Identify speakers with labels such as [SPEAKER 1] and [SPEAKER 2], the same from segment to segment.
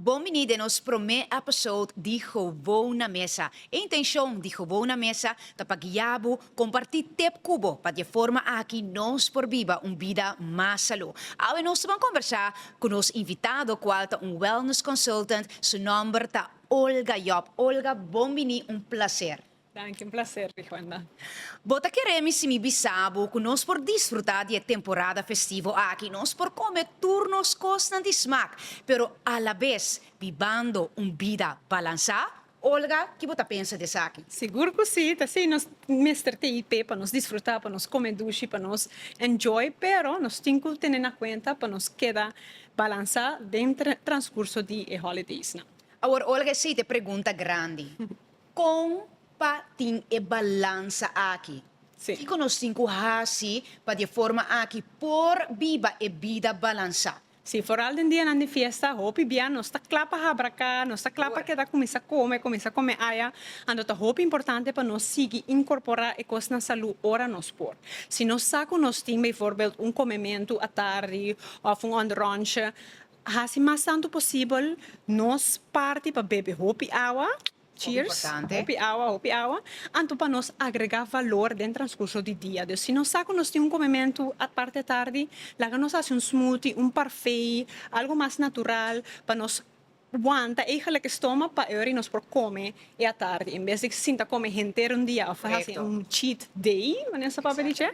[SPEAKER 1] Bon bini den nos prome episode di Gowo na Mesa. E intencion di Gowo na Mesa ta pa guia bo, comparti tip cu bo pa di e forma aki nos por biba un bida mas salu. Awe nos ta ban conversa cu nos invitado cual ta un wellness consultant, su nomber ta Olga Job. Olga, bon bini, un placer. Danki, un placer di cuenta. Bo ta kere mi si mi bisa bo ku nos por disfrutá di e temporada festivo aki? Nos por kome tur nos kosnan di smak, pero alabes bibando un bida balansá? Olga, ki bo ta pensa di esaki? Sigur ku sí, ta así, nos mester TIP pa nos disfrutá, pa nos kome dushi, pa nos enjoy, pero nos tin ku tene na kuenta pa nos keda balansá den transkurso di e holidaysnan. Awor, Olga, esei ta e pregunta grandi. Kon pa tin e balansa aki? Kiko nos tin ku hasi pa di e forma aki por biba e bida balansá? Sí, foral den dianan di fiesta, hopi bia nos ta kla pa habra aká, nos ta kla pa keda kuminsá kome, kuminsá kome aya. Anto ta hopi importante pa nos sigui inkorporá e kos na salú ora nos por. Si nos sa ku nos tin beivoorbeeld un komementu atardi òf un òndrònchi, Hasi mas tantu posibel nos parti pa bebe hopi awa, cheers, hopi awa, hopi awa, anto pa nos agrega valor den transcurso di dia. Dus si nos sa cu nos tin un comementu parti e tardi, laga nos haci un smoothie, un parfait, algo mas natural pa nos wanta eigenlijk e stomach pa e ora di nos por come e atardi, en bes di sinta come henter un dia of haci un cheat day, manera esaki papia dice,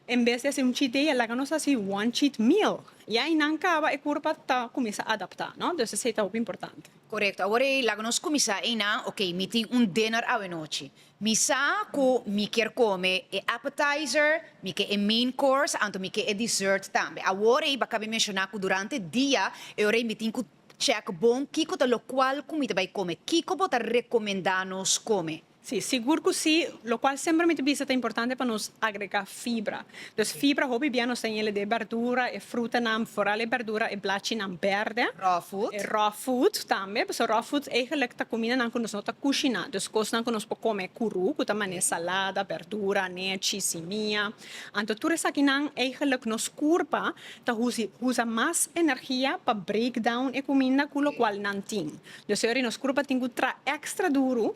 [SPEAKER 1] en bes di haci un cheat day laga nos haci one cheat meal. I ai nan kaba e kurpa ta kuminsá adaptá, no? Dus esei ta hopi importante. Korekto. Awor ei laga nos kuminsá einan, oke, mi tin un dinner awenochi. Mi sa ku mi kier kome e appetizer, mi ke e main course, anto mi ke e dessert tambe. Awor ei ba kabi menshoná ku durante dia e ora ei mi tin ku chèk bon kiko ta lokual ku mi ta bai kome. Kiko bo ta rekomendá nos kome? Sí, sigur cu sí, locual semper mi ta bisa ta importante pa nos agrega fibra. Dus fibra hopi bia nos ta en el'e berdura, e frutanan, foral e berdura, e blachinan berde. Raw food. E raw food tambe, pasobra raw food eigenlijk ta cuminanan cu nos no ta cushina, dus cosnan cu nos por come curu, cu ta manera salada, berdura, nechi, simia. Anto tur esakinan eigenlijk nos curpa ta usa mas energia pa break down e cuminda cu locual nan tin. Lo señor y nos curpa tin cu tra extra duro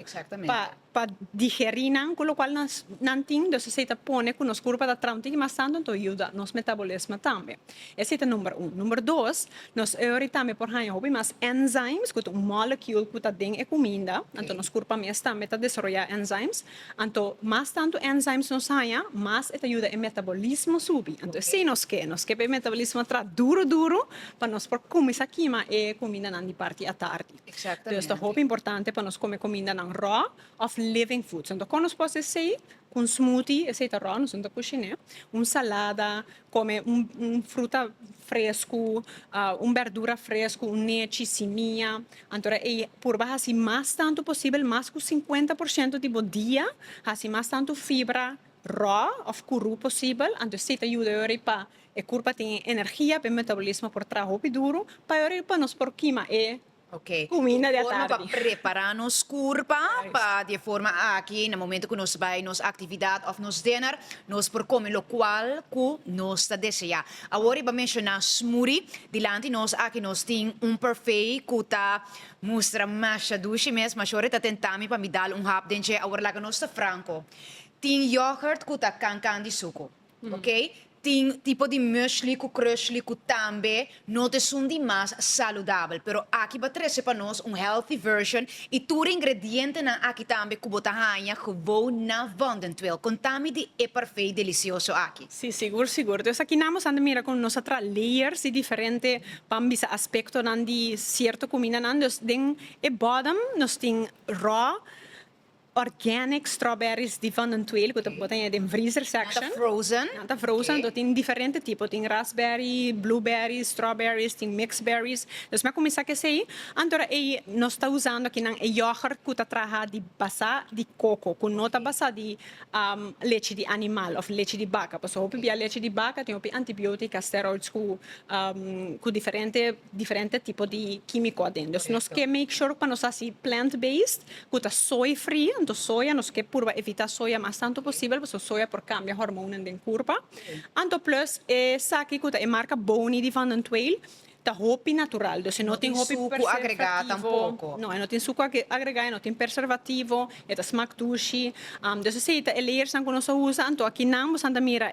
[SPEAKER 1] pa digeri nan cu locual nan tin entonces esey ta pone cu nos curpa ta tra un tiki mas tanto entonces yuda nos metabolismo tambe esey ta number uno, number dos nos eori tambe por haya hopi mas enzymes cu ta un molecule cu ta den e cuminda entonces nos curpa mes tambe ta desaroya enzymes Anto, mas tantu enzymes nos haña, mas e ta yuda e metabolismo subi. Anto esei nos ke, nos ke pa e metabolismo tra duru duru pa nos por kuminsá kima e kumindanan di parti atardi. Exactamente. Entonces ta hopi importante pa nos kome kumindanan rò òf living foods. Anto kon nos por hasi esei? Ku un smoothie, esei ta rò, nos no ta kushiné, un salada, Kome un un fruta fresku, un bèrdura fresku, un nechi, simia, anto ra ei purba hasi mas tantu posibel, mas ku sinkuenta por shento di bo dia, hasi mas tantu fibra rò òf kurú posibel, anto esei ta yuda yori pa e kurpa tin e energia, pa e metabolismo por traha hopi duru, pa yori pa nos por kima e Ok, Kumina di a forma pa tardi. prepará nos kurpa pa di e forma aki na momento ku nos bai nos aktividat òf nos dèner nos por kome lokual ku nos ta deseá. Awor i ba menshoná smoothie. Dilanti nos aki nos tin un parfait ku ta mustra masha dushi mes. Mashore ta tentá mi pa mi dal un hap den dje. Awor laga nos ta franko. Tin yògùrt ku ta kankan di suku. Ok, tin tipo di muesli cu krusli cu tambe no ta esun di mas saludabel, pero aki bo a trece pa nos un healthy version y tur e ingredientenan aki tambe cu bo ta haya gewoon na Vondentuil. Conta mi di e parfait delicioso aki. Sí, sigur, sigur. Dus aki nan bo san ta mira con nos a tra layers di diferente, pan bisa aspectonan di cierto cumindanan. Dus den e bodem nos tin raw. Organic strawberries di Van den Tweele ku ta bota aña den vriezer section. Nan ta frozen. Nan ta frozen, entonces tin diferente tipo. Tin raspberry, blueberries, strawberries, tin mixed berries. Nos mi a kuminsá ku esei. Anto ra ei nos ta usando akinan e yoghurt ku ta traha di basá di koko, ku no ta basá di lechi di animal òf lechi di baka. Pasobra hopi bia lechi di baka tin hopi antibiotica, steroids ku ku diferente diferente tipo di kímiko aden. Dus nos ke make sure pa nos hasi plant based. cu ta soy free, anto soya, nos ke purba evita soya mas tanto posibel pasobra soya por cambia hormonan den curpa. Anto plus esaki cu ta e marca Bounty di Van den Tweil ta hopi natural, dus e no tin hopi preservativo. No tin sucu agregá tampoco. No, e no tin sucu agregá, e no tin perservativo, e ta smak dushi. Dus esey ta e layers nan cu nos a usa, anto aki nan bosan ta mira.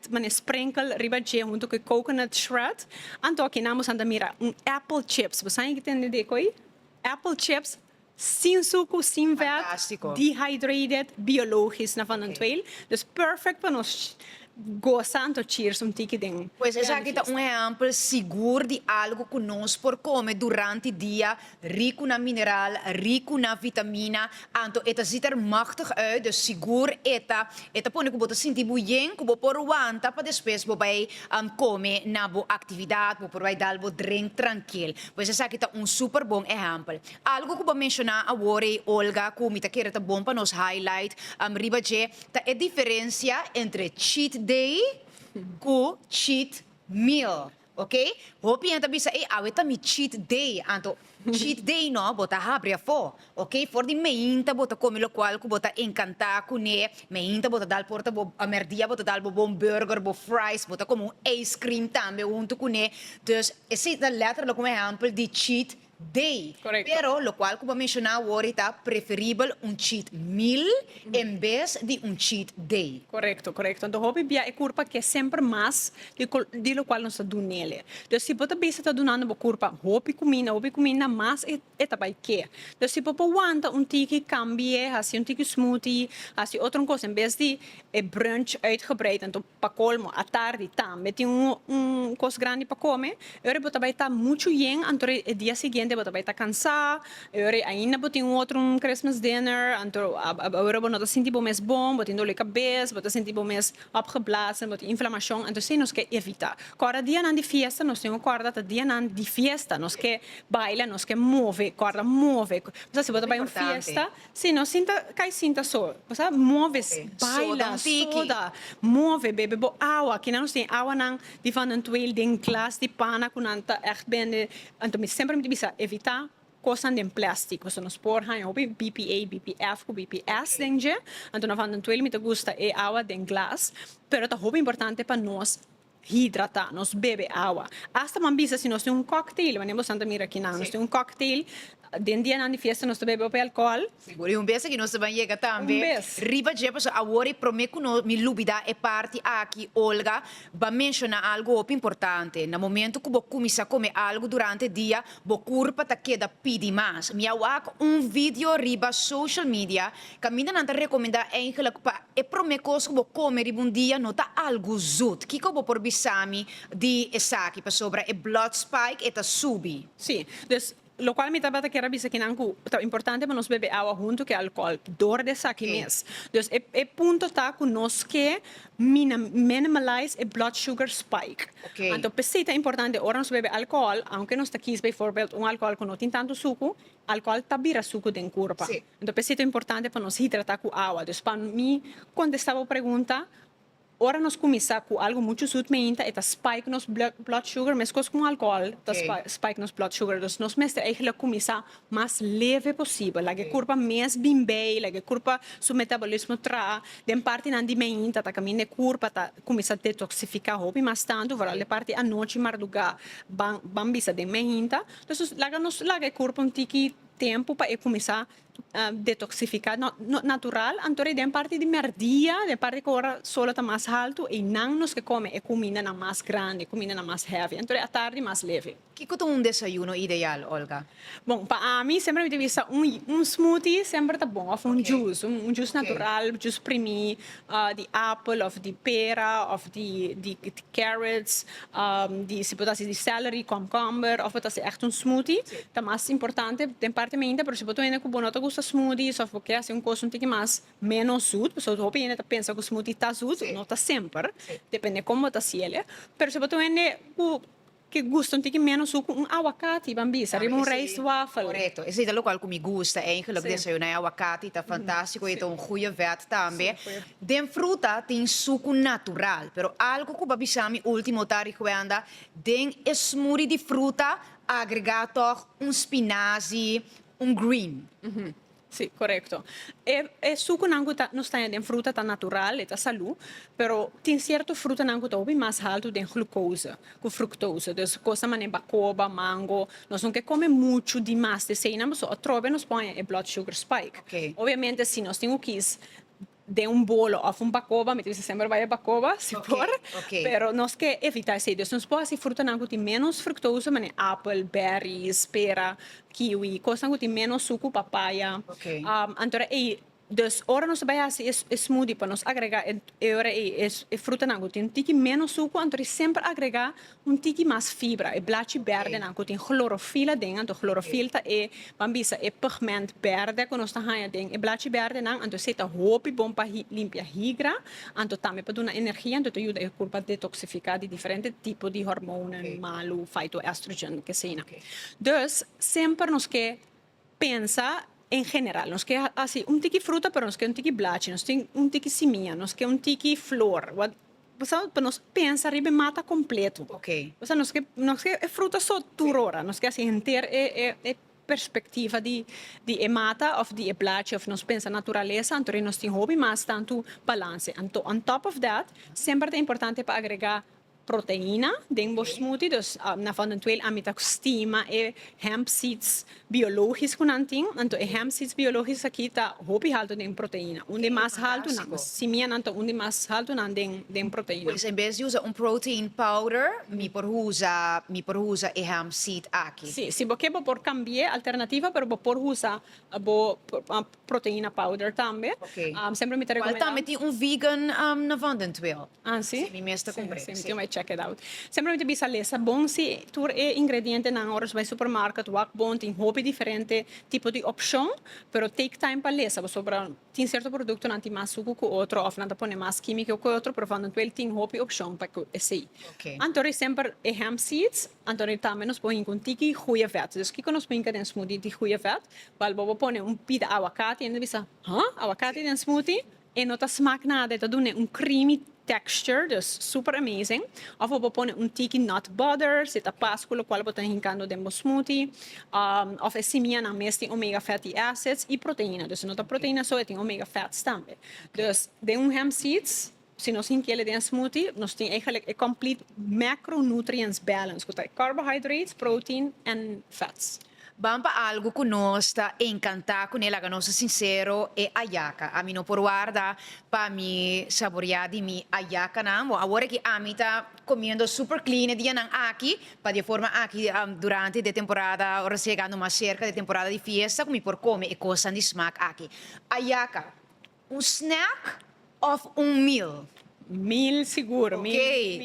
[SPEAKER 1] Mane sprenkel riba dje hunto cu e coconut shred. Anto aki nan bo sa ta mira un apple chips. Bo sa ain ki ta hende di e coi? Apple chips sin sucu, sin vet. Fantastico. Dehydrated, biologisch na vanantweel. Dus perfect pa nos gosa anto cheers un tiki den. Pues esaki ta un ehempel sigur di algo cu nos por come durante dia. Riku na mineral, riku na vitamina, anto e ta ziet er machtig uit, dus sigur e ta e ta pone ku bo ta sinti buyen ku bo por wanta pa despues bo bai kome na bo aktividat, bo por bai dal bo drink trankil. Pues esaki ta un super bon ehèmpel. Algu ku bo menshoná awor ei Olga ku mi ta kere ta bon pa nos highlight riba dje ta e diferensia entre cheat day ku cheat meal. Ok, hopi hende ta bisa ey awe ta mi cheat day, anto cheat day no bo ta habri afo, ok, for di meinta bo ta come locual cu bo ta encanta cune, meinta bo ta dal por ta bo, a merdia bo ta dal bo bon burger, bo fries, bo ta come un ijscream tambe hunto cune, dus esey ta letterlijk un ehempel di cheat. Day. Pero locual cu bo menciona awor ta preferibel un cheat meal en bes di un cheat day. Correcto, correcto. Enton hopi bia e curpa ke semper mas di locual nos ta dun nele. Dus si bo ta bisa ta dunando bo curpa hopi cuminda, hopi cuminda mas e ta bay ke. Dus si bo por wanta un tiki cambie, haci un tiki smoothie, haci otro cosa en bes di e brunch uitgebreid enton. Pa colmo, atardi tambe tin un cos grandi pa come. E ora bo ta bay ta mucho yen, anto e dia siguiente bo ta bay ta cansa. E ora ainda bo tin un otro un Christmas dinner, anto e ora bo no ta sinti bo mes bon, bo tin dole cabez, bo ta sinti bo mes opgeblazen, bo tin inflamacion. Anto esey nos ke evita. Cu ora dianan di fiesta nos tin cu corda ta dianan di fiesta. Nos ke baila, nos ke move, corda move. Bo sa si bo ta bay un fiesta. Si no sinta kai sinta so bo sa move baila soda move bebe bo awa kinan nos tin awa nan di vanantuel den glas di pana ku nan ta echt bende anto mi semper mi ta bisa evita kosnan den plastic pasobra nos por haña hopi bpa bpf ku bps den dje anto na vanantuel mi ta gusta e awa den glas pero ta hopi importante pa nos. Hidrata nos, bebe awa. Asta bo a bisa si nos tin un cocktail, mane bosan ta mira kinan, nos tin un cocktail, den dianan di fiesta nos ta bebe hopi alcohol. Sigur, y un bes aki nos ta ban yega tambe riba dje, pasobra awor e prome cu no, mi lubida e parti aki, Olga ba menciona algo hopi importante, na momento cu bo cuminsa come algo durante dia, bo cur pa ta keda pidi mas. Mi a wak un video riba social media Camindanan ta recomenda eigenlijk pa e prome cos cu bo come riba un dia no ta algo zoet. Kico bo por bisami di esaki? Pasobra e blood spike e ta subi. Sí, dus locual mi tabata kier a bisa kinan cu ta importante pa nos bebe awa hunto cu e alcohol door di esaki mes. Dus e e punto ta cu nos ke mina minimalize e blood sugar spike. Anto p'esei ta importante ora nos bebe alcohol, aunke nos ta kies bijvoorbeeld un alcohol cu no tin tanto sucu, Alcohol ta bira sucu den curpa. Enton p'esei ta importante pa nos hidrata cu awa. Dus pa mi contesta bo pregunta, ora nos cuminsa cu algo mucho zoet meinta e ta spike nos blood sugar mescos cu alcohol ta spike nos blood sugar. Dus nos mester eigenlic cuminsa mas leve posibel. Laga e curpa mes bin bay, laga e curpa su metabolismo traha den partinan di meinta ta caminda e curpa ta cuminsa detoxifica hopi mas tanto vooral e parti anochi marduga ban bisa den meinta. Entonces laga nos laga e kurpo un tiki tempu pa e kuminsá detoksifiká natural anto e den parti di mèrdia den parti ku ora sol a ta mas haltu einan nos ke kome e kumindanan mas grandi e kumindanan mas hèvi anto di atardi mas leve. Kiko ta un desayuno ideal Olga? Bon pa ami semper mi ta bisa un smoothie semper ta bon òf un jus un jus natural jus primí. di apel of di pera of di di carrots di si por ta si di celery komkomber of por ta si ègt un smoothie ta mas importante den parte meinta pero si bo ta wende ku bo no ta gusta smoothies of bo ke hasi un kos un tiki mas menos zoet pasobra hopi hende ta pensa ku smoothie ta zoet no ta semper depende kon bo ta hasiel pero si bo ta wende ku Ki gusto tin ki menos su ku un awakati ban bisa riba un rijstwafel? Korekto. Esei ta lokual ku mi gusta eigelik. Desayuná e awakati ta fantástiko i ta un goeie vèt tambe. Den fruta tin suku natural, pero algu ku pa bisa mi último ta rikuenda den e smoothie di fruta agregá tòg un spinazi, un green. Sí, korekto. E e sukunan ku ta nos taña den fruta ta natural, e ta salú, pero tin sierto frutanan ku ta hopi mas haltu den glukoze ku fruktose. Dus kos ta manera bakoba, mango, nos no ke kome muchu di mas di eseinan, pasobra atrobe nos por haña e blood sugar spike. Oke. Obviamente si nos tin ku kis den un bolo of un bacoba mi ta bisa semper bay e bacoba si por pero nos ke evita esey dus nos por hasi frutanan cu tin menos fructoso mane apel berries pera kiwi cosnan cu tin menos sucu papaya antora ey dus ora nos ta bay hasi e smoothie pa nos agrega e ora ey e frutanan cu tin un tiki menos sucu anto semper agrega Un tiki mas fibra, e blachi bèrdenan ku tin hlorofila den, anto hlorofil ta e, ban bisa, e pigment bèrdè ku nos ta haña den e blachi bèrdenan, anto esei ta hopi bon pa limpia higra, anto tambe pa duna energia, anto ta yuda e kurpa detoksifiká di diferente tipo di hormonnan malu, faitoestrogen, keseina. Dus, semper nos ke. Pensa en general. Nos ke hasi un tiki fruta pero nos ke un tiki blachi, nos tin un tiki simiña, nos ke un tiki flor, wak, bo sa, pa nos pensa riba e mata kompletu. Okay. Bo sa, nos ke, nos ke e fruta so tur ora, nos ke hasi henter e, e, e perspektiva di, di e mata òf di e blachi òf nos pensa naturalesa, anto nos tin hopi mas tantu balanse. Anto, on top of that, semper ta importante pa agregá. proteina den bo smoothie dus nan for nan tuel ami ta stima e hemp seeds biologis cu nan tin anto e hemp seeds biologis aki ta hopi halto den proteina un di e mas halto nan simianan ta un di mas halto nan den proteina. Pues en bes di usa un protein powder mi por usa mi por usa e hemp seed aki. Si, si bo ke bo por cambie alternativa pero bo por usa bo Proteina powder tambe. Semper mi ta recomenda. Cual tambe tin un vegan na van den Twill. Ah si? Si mi mes ta cumbre. Si, si mi tin bay check it out. Semper mi ta bisa lesa bon si tur e ingrediente nan ora nos bay supermarket wak bon tin hopi diferente tipo di opcion pero take time pa lesa pasobra tin cierto producto nan tin mas sucu cu otro of nan ta pone mas quimica cu otro pero van den Twill tin hopi opcion pa cu esey. Anto rey semper e hemp seeds. Anto di tambe nos por hinca un tiki goeie vet. Dus kico nos por hinca den smoothie di goeie vet? Bal bobo pone un pida aguacati en ta bisa, Huh? Aguacati den smoothie? E no ta smaak nada, e ta dun'e un creamy texture, dus super amazing. Of bobo pone un tiki nut butter, si ta pas cu locual bo ta hincando den bo smoothie. Of e simianan mes tin omega fatty acids y proteina, dus e no ta proteina so, e tin omega fats tambe. Dus den un hemp seeds. Si nos hintiel e den smoothie nos tin eigenlijk e complete macronutrients balance cu ta e carbohydrates, protein and fats. Ban pa algo cu nos ta encanta cun'e laga nos ta sincero e ayaca. Ami no por warda pa mi saboria di mi ayacanan. Bon awor aki ami ta comiendo super clean e dianan aki pa di e forma aki durante de temporada ora nos ta yegando mas cerca de temporada di fiesta cu mi por come e cosnan di smaak aki. Ayaca. Un snack of un meal? Meal sigur. Ok,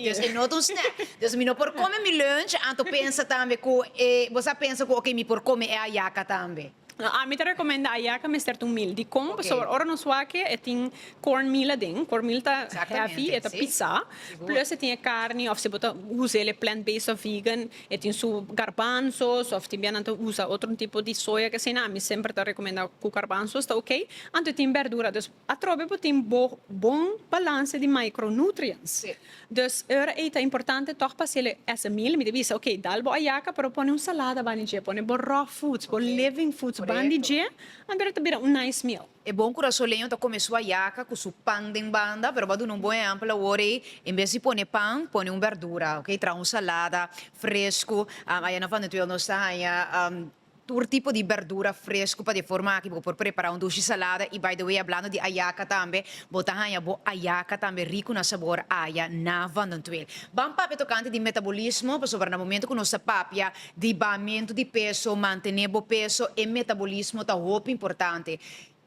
[SPEAKER 1] dus e no ta un snack. Dus mi no por kome mi lunch anto pensa tambe ku e, bo sa pensa ku ok mi por kome e ayaka tambe. No, ami ta rekomenda ayaka mester ta un meal. Dikon? Ok. Pasobra ora nos wake e tin corn meal aden. Corn meal ta Exactamente, heavy, e ta sí. pisá. Sigur. Plus e tin e carni of si bo ta usa el e plant based of vegan. E tin su garbanzos of tin bia nan ta usa otro tipo di soya ke asina ami semper ta recomenda cu garbanzos ta ok anto tin berdura dus atrobe bo tin bo bon balance di micro nutrients dus ora ey ta importante tog pa haciele ese meal mi ta bisa ok dal bo ayaca pero pone un salada bani dje pone bo raw foods bo living foods bandi dje anto ora ta bira un nice meal. E bon kurasoleño ta kome su hayaca cu su pan den banda, pero bo a duna un bon ehempel awor ey, en bes di pone pan, pone un berdura, ok, traha un salada frescu, aya na Vanutuel nos ta haya tur tipo di berdura frescu pa di forma aki bo por prepara un dushi salada, y by the way hablando di hayaca tambe, bo ta haya bo hayaca tambe ricu na sabor aya na Vanutuel. Ban papia tocante di metabolismo, pasobra na momento cu nos ta papia, Di bamentu di peso, mantené bo peso e metabolismo ta hopi importante.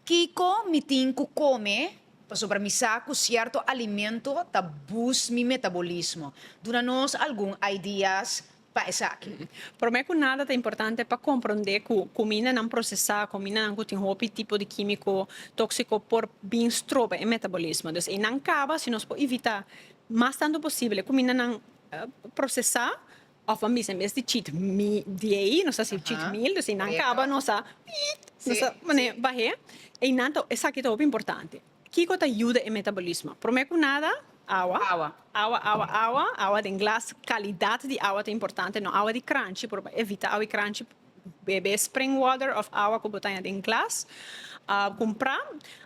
[SPEAKER 1] Kiko mi tin ku kome pasobra mi sa ku sierto alimento ta boost mi metabolismo? Duna nos algun ideas pa esaki. Promé ku nada ta importante pa komprondé ku kumindanan prosesá, kumindanan ku tin hopi tipo di kímiko tóksiko por bin stroba e metabolismo. Dus einan kaba si nos por evitá mas tantu posibel e kumindanan prosesá. Of a misa en bes di chit mi diei nos a si chit mil dus eynan caba nos a piitt nos a pone bahé eynan ta esaki ta hopi importante kico ta yuda e metabolismo prome cu nada awa awa awa awa awa awa den glas calidad di awa ta importante no awa di cranchi por evita awa di cranchi. bebe spring water of awa cu bo taña den glas a cumpra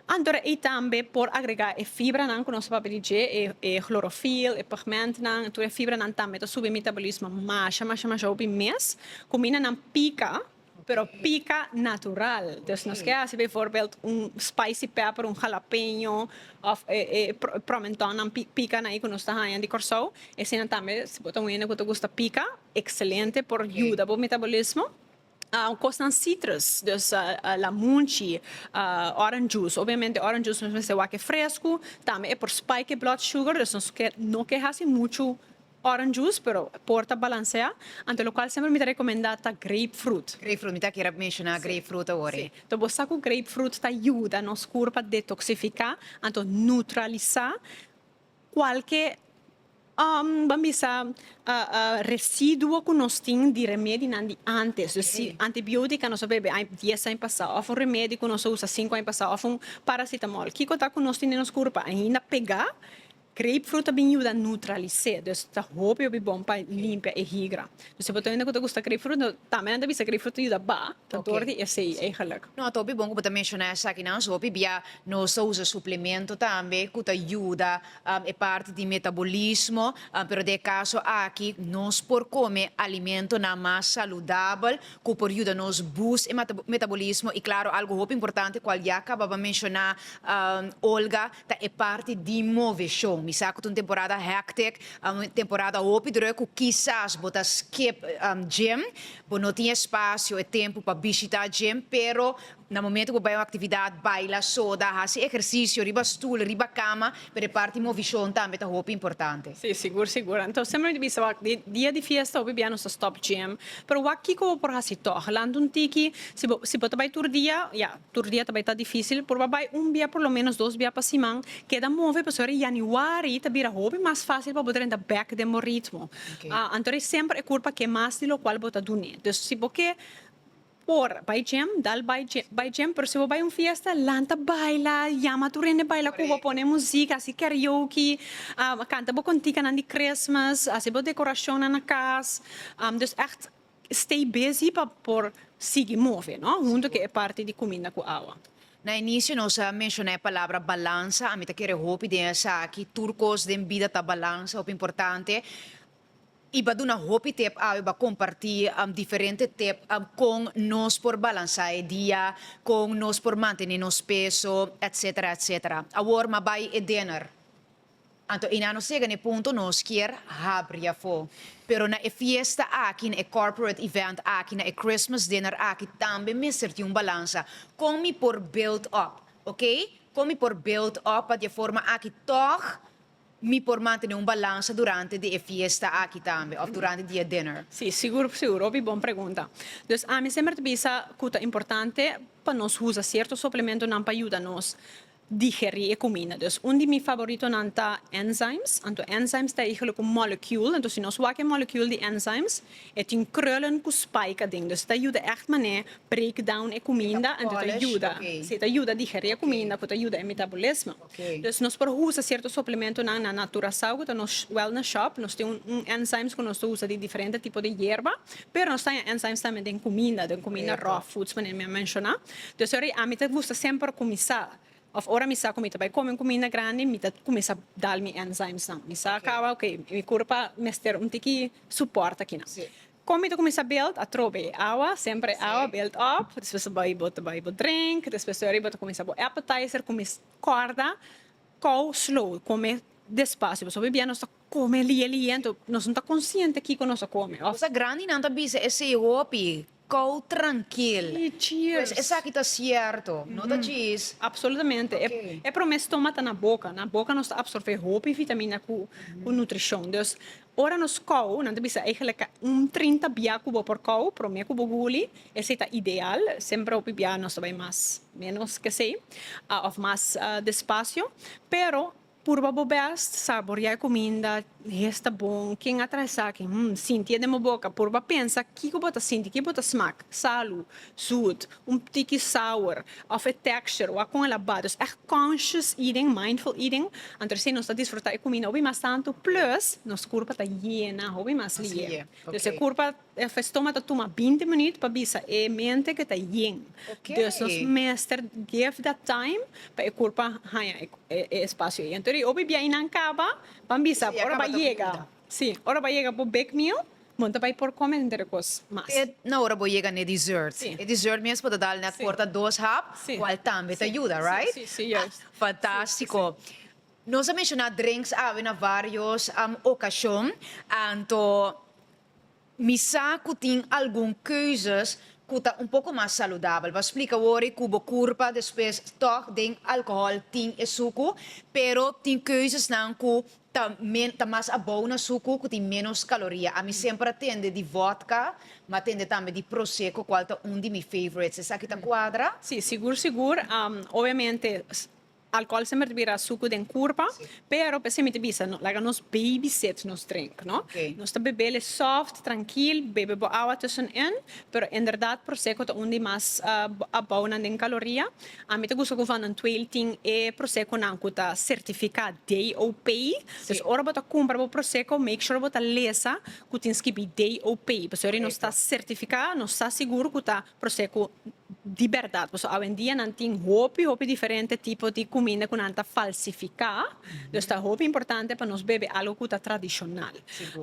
[SPEAKER 1] anto de ey tambe por agrega e fibra nan cu nos ta papia di dje e chlorofil e pigment nan tur e fibra nan tambe ta subi e metabolismo masha masha masha hopi mes cu mina nan pica pero pica natural dus nos ke haci bijvoorbeeld un spicy pepper un jalapeño of e e promenton nan pica nan ey cu nos ta haña di Kòrsou e sinan tambe si bo ta un hende cu ta gusta pica. Excelente por yuda bo metabolismo. Un cos nan citrus dus la munchi orange juice obviamente orange juice nos mester wak e frescu tambe e por spike e blood sugar dus nos no ke hasi muchu orange juice pero por ta balansea ante locual semper mi ta recomenda ta grape fruit. Grape fruit mi ta kere menciona grape fruit awor e. Si bo sa cu grape fruit ta yuda nos curpa detoxifica anto neutralisa. Cualke ban bisa residuo cu nos tin di remedinan di antes. Dus si antibiotica nos a bebe ai dies ai pasa of un remedi cu nos a usa cinco ai pasa of un paracetamol kico ta cu nos tin den nos curpa ainda pega? Grapefruit a bin yuda neutralise, dus ta hopi hopi bon pa limpia e higra. Si bo ta hende ku ta gusta grapefruit, no tambe nan ta bisa grapefruit yuda ba ta dor di esei eigenlik. No, ta hopi bon ku bo ta menshoná esakinan so, hopi bia nos ta usa suplemento tambe ku ta yuda e parti di metabolismo, pero den e kaso aki nos por kome alimentonan mas saludabel ku por yuda nos boost e metabolismo, i klaro algu hopi importante kual ya kababa menshoná Olga, Ta e parti di move show. Mi sa cu ta un temporada hectic, un temporada hopi druk cu kisas bo ta skip gym. Bo no tin e spacio, e tempo pa bishita gym, pero na momento cu bo bai un actividad, baila, soda, haci ehercicio riba stoel, riba cama, pero e parti movicion tambe ta hopi importante. Sí, sigur, sigur. Enton seme mi ta bisa wak, di dia di fiesta hopi bia nos ta stop gym, pero wak kico bo por haci toch? Lanta un tiki, si bo, si bo ta bai tur dia, ya, Tur dia ta bai ta difísil, por pa bai un bia por lo ménos dos bia pa siman. Keda move pasobra ora yanüari ta bira hopi mas fásil pa bo drenta bèk den bo ritmo. Anto ora e semper e kurpa ke mas di lokual bo ta dun'é. Dus si bo ke por bai jèm, dal bai bai jèm, pero si bo bai un fiesta, lanta baila, yama tur hende baila ku bo, pone muzik, hasi karaoke, kanta bo kontinkanan di Christmas, hasi bo dekorashonnan na kas. Dus ègt Stay busy pa por sigui move, no? Huntu cu e parti di cuminda cu awa. Na inicio nos a menciona e palabra balansa, ami ta kere hopi den esaki, tur cos den bida ta balansa, hopi importante, y ba duna hopi tip awe, ba comparti diferente tip con nos por balansa e dia, con nos por mantene nos peso, etc. Awor ma bay e dinner. Anto Eina nos yega na e punto nos kier habri afó. Pero na e fiesta aki, na e corporate event aki, na e Christmas dinner aki tambe mester tin un balansa. Kon mi por build up, ok? Kon mi por build up pa di e forma aki tog mi por mantene un balansa durante di e fiesta aki tambe of durante di e dinner? Sí, sigur sigur. Hopi bon pregunta. Dus ami semper ta bisa cu ta importante pa nos usa cierto suplementonan pa yuda nos digerí e kuminda. Dus un di mi favoritonan ta enzymes. Anto enzymes ta e higelo ku molecule. Anto si nos wak e molecule di enzymes e tin krullen ku spike aden. Dus ta yuda ègt manera break down e kuminda anto ta yuda si ta yuda digerí e kuminda ku ta yuda e metabolismo. Dus nos por usa sierto suplementonan na naturasao ku ta na wèl na shòp. Nos tin un enzymes ku nos ta usa di diferente tipo di yerba. Pero nos ta haña enzymes tambe den kuminda, den kuminda raw foods manera mi a menshoná. Desori ami ta gusta semper kuminsá òf ora mi sa ku mi ta bai kome un kuminda grandi mi ta kuminsá dal mi enzymes nan mi sa kaba ok mi kurpa mester un tiki supòrt aki nan kon mi ta kuminsá build atrobe awa semper e awa build up despues bai bo ta bai bo drink despues desori bo ta kuminsá bo appetizer kumis kòrda kou slow kome despacio pasobra oi dia nos ta kome lie lie nos no ta konsiente kiko nos ta kome òf. Grandi nan ta bisa esei hopi Kou trankil. Pues esaki ta sierto, no ta djis. Apsolutamente. E prome stoma ta na boka. Na boka nos ta apsorbé hopi vitamina ku nutrishon. Dus ora nos kou, nan ta bisa eigelik un trinta bia ku bo por kou, prome ku bo guli, esei ta ideal. Semper hopi bia nos ta bai mas ménos ke esei, òf mas despasio. Pero. Purba bo best, saboria e cuminda, hes ta bon, ken a traha esaki? Hm, sinti e den bo boca, purba pensa kico bo ta sinti, kico bo ta smak, salu, zoet, un tiki sour, of e texture, wak con el a bada, dus echt conscious eating, mindful eating, anto así nos ta disfruta e cuminda hopi mas tanto, plus nos curpa ta yena hopi mas liye, dus e curpa. E festoma ta tuma binti minuut pa bisa e mente ke ta yin. Dus nos mester give that time pa e kurpa haña e espasio ei. Entor di obe biahinan kaba ban bisa ora bai yega. Si, ora bai yega bo big meal, bo no ta bai por kome henter e kos mas. Te na ora bo yega n'e dessert. E dessert mes bo ta dal n'e korta dos hap, kual tambe ta yuda, right? Fantástiko. Nos a menshoná drenks awe na vários okashon, anto Mi sa ku tin algun keuzes ku ta un poko mas saludabel. Bo a splika wor ku bo kurpa despues tòg den alkohòl tin e suku, pero tin keuzesnan ku ta men ta mas abou na suku ku tin ménos kaloria. Ami semper a tende di vòdka, mi a tende tambe di proseko kual ta un di mi favorites. Esaki ta kuadra? Sí, sigur sigur. Obviamente. Alcohol semper ta bira sucu den curpa, pero p'esey mi ta bisa, no laga nos baby sit nos drink, no. Nos ta bebele soft, trankil, bebe bo awa tussenin, pero inderdaad Prosecco ta un di mas abounan den caloria. A mi ta gusta cu Van den Tweel tin e Prosecconan cu ta certifica DOP, dus ora bo ta cumpra bo Prosecco make sure bo ta lesa cu tin skibi DOP, pasobra nos ta certifica, nos ta sigur cu ta Proce cu di berdad, pasobra awendia nan tin hopi hopi diferente tipo di cuminda cu nan ta falsifica, dus ta hopi importante pa nos bebe algo cu ta tradicional.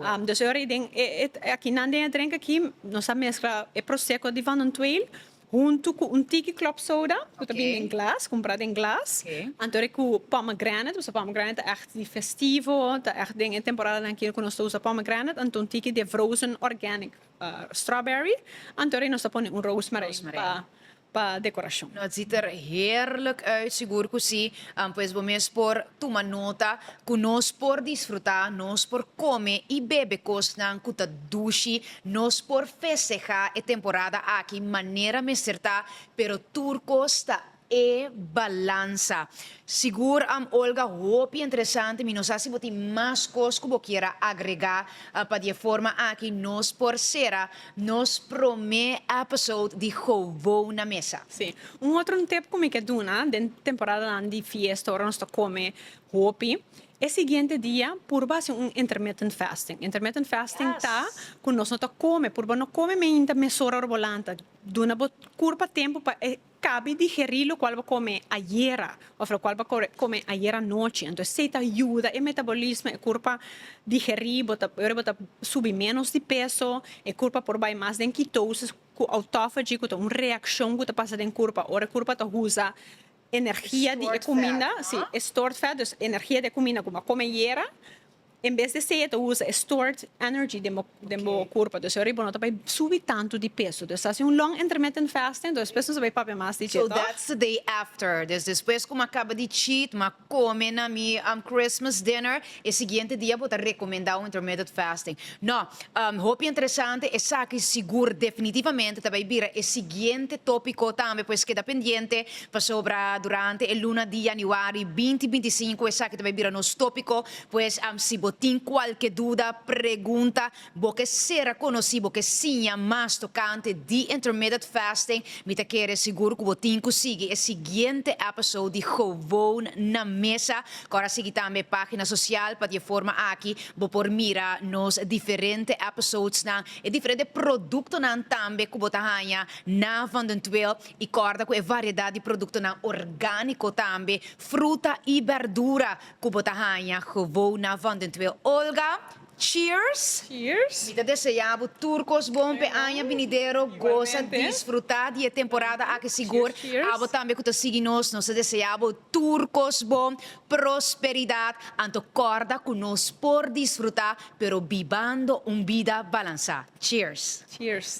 [SPEAKER 1] Am, dus e ora y den e, e, e aki nan den e drink aki nos a mezcla e proseco di Van Ontweel hunto cu un tiki club soda cu ta bini den glas, cumpra den glas, Okay. antori cu pomegranate, pasobra pomegranate ta echt di festivo, ta echt den e temporadanan aki cu nos ta usa pomegranate, anto un tiki de vrozen organic. strawberry anto rei nos ta pone un rosemary pa decorashon. No a ziet er heerlijk uit, sigur cu si, pues bo mes por tuma nota cu nos por disfruta, nos por come y bebe cosnan cu ta dushi, nos por festeha e temporada aki manera mester ta, pero tur cos ta E balansa. Sigur am Olga hopi entresante mi no sa si bo tin mas cos cu bo kier a agrega pa di e forma aki nos por cera nos prome episode di Gewoon na Mesa. Si. Un otro tip cu mi ke duna den temporadanan di fiesta ora nos ta come hopi e siguiente dia purba haci un intermittent fasting. Intermittent fasting ta cu nos no ta come purba no come mainta mesora ora bo lanta duna bo curpa tempo pa e Cabi digerí locual bo come ayera of locual bo come ayer anochi. Entonces esey ta yuda e metabolismo, e curpa digerí, bo ta ora bo ta subi menos di peso, e curpa por bay mas den ketosis cu autophagy cu ta un reaccion cu ta pasa den curpa ora e curpa ta usa energia di e cuminda, si, e stored fat, dus energia di e cuminda cu bo a come ayera. En bes di seia ta usa e stored energy den bo den bo kurpa dus ariba no ta bai subi tantu di peso dus ta hasi un long intermittent fasting despues nos a bai papia mas di dje tòg. So that's the day after des despues ku mi a kaba di cheat mi a kome na mi Christmas dinner e siguiente dia bo ta rekomendá un intermittent fasting no hopi interesante esaki sigur definitivamente ta bai bira e siguiente topiko tambe pues keda pendiente pasobra durante e luna di Januari binti binti sinku esaki ta bai bira nos topiko Pues, si bo tin kualke duda, pregunta, bo ke sera konosí, bo ke siña mas tokante di Intermitted Fasting, mi ta kere sigur ku bo tin ku sigui e siguiente èpisode di Gewoon na Mesa. Kòrda sigui tambe e página sosial pa di e forma aki bo por mira nos diferente èpisodenan, e diferente produktonan tambe ku bo ta haña na Van den Tweel. I kòrda ku e variedat di produktonan orgániko tambe, fruta i bèrdura, Ku bo ta haña gewona van den twee Olga. Cheers! Cheers! Mi ta deseá bo tur kos bon p'e aña binidero. Gosa, disfrutá di e temporada aki sigur. Abo tambe ku ta sigui nos, nos ta deseá bo tur kos bon, prosperidat, anto kòrda ku nos por disfrutá pero bibando un bida balansá. Cheers! Cheers!